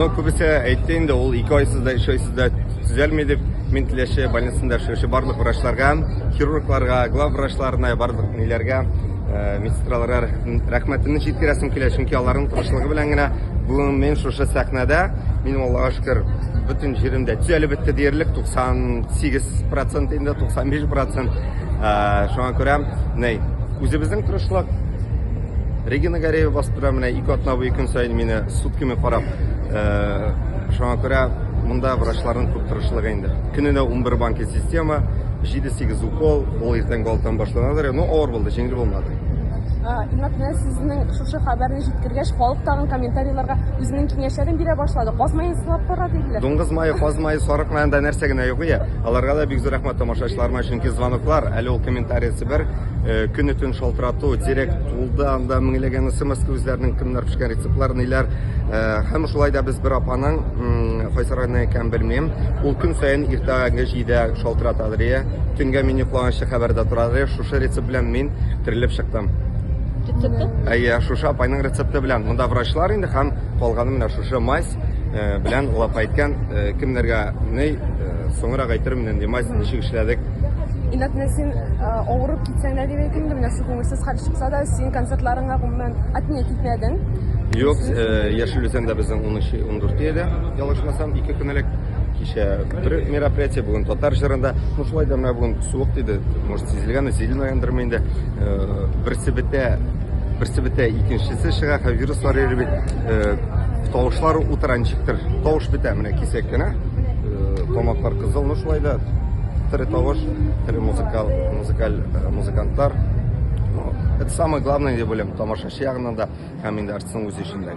Күбесе әйтте инде, ул ике айсыз да, өч айсыз да төзәлми дип. Мин Теләче больницасында эшләүче барлык врачларга, хирургларга, глав врачларына, барлык ниләргә, э, медсестраларга рәхмәтемне җиткерәсем килә, чөнки аларның тырышлыгы белән генә бүген мин шушы сәхнәдә, мин Аллага шөкер, бөтен җиремдә төзәлеп бетте диярлек, 98% инде 95%. Э, шуңа күрә, ней, үзебезнең тырышлык, Регина Гареева басып тора менә ике атна буе көн саен мине сутками карап. Э, шуңа күрә монда врачларның күп тырышлыгы инде. Көненә 11 банки система, 7-8 укол, ул иртәнге 6-тан башланадыр. Ну, авыр булды, җиңел булмады. Инат менә сезнең шушы хәбәрне җиткергәч, халык тагын комментарийларга үзенең киңәшләрен бирә башлады. Казмаен сылап кара диделәр. Дуңгыз мае, каз мае, сарык маенда нәрсә генә юк ия. Аларга да бик зур рәхмәт тамашачыларыма, чөнки звоноклар, әле ул комментариясе бер, Э, көне төн шалтырату директ тулды анда меңләгән смс үзләренең кемнәр пешкән рецептлар ниләр э, һәм шулай да без бер апаның кайсы районнан икәнен белмим ул көн саен иртәге җидә шалтырата рия төнгә мин йоклаганчы хәбәрдә тора рия шушы рецепт белән мин терелеп чыктым рецепты әйе шушы апайның рецепты белән монда врачлар инде һәм калганы менә шушы мазь Белән лап әйткән, кемнәргә ни, соңрак әйтермен, нинди мазь ничек эшләдек. Инат Нәсин авырып китсәң дә дип әйтим, менә шул күңелсез хәл чыкса да, син концертларыңа гомумән атне китмәдең. Юк, Яшел Үзәндә безнең 13-14 иде, ялгышмасам, ике көн элек. Кичә бер мероприятие, бүген татар җырында. Ну шулай да менә бүген суык тиде, может сизелгәндер, сизелмәгәндерме инде. Берсе бетә, Берсе бетә, икенчесе чыга, һәм вируслар йөри бит. Э, тавышлар утыра ничектер. Тавыш бетә, менә кисәк кенә. Э, тамаклар кызыл, ну шулай да тере тавыш, тере музыкал, музыкаль, э, музыкантлар. Ну, это самое главное, дип уйлыйм, тамашачы ягыннан да, һәм инде артистның үзе өчен дә.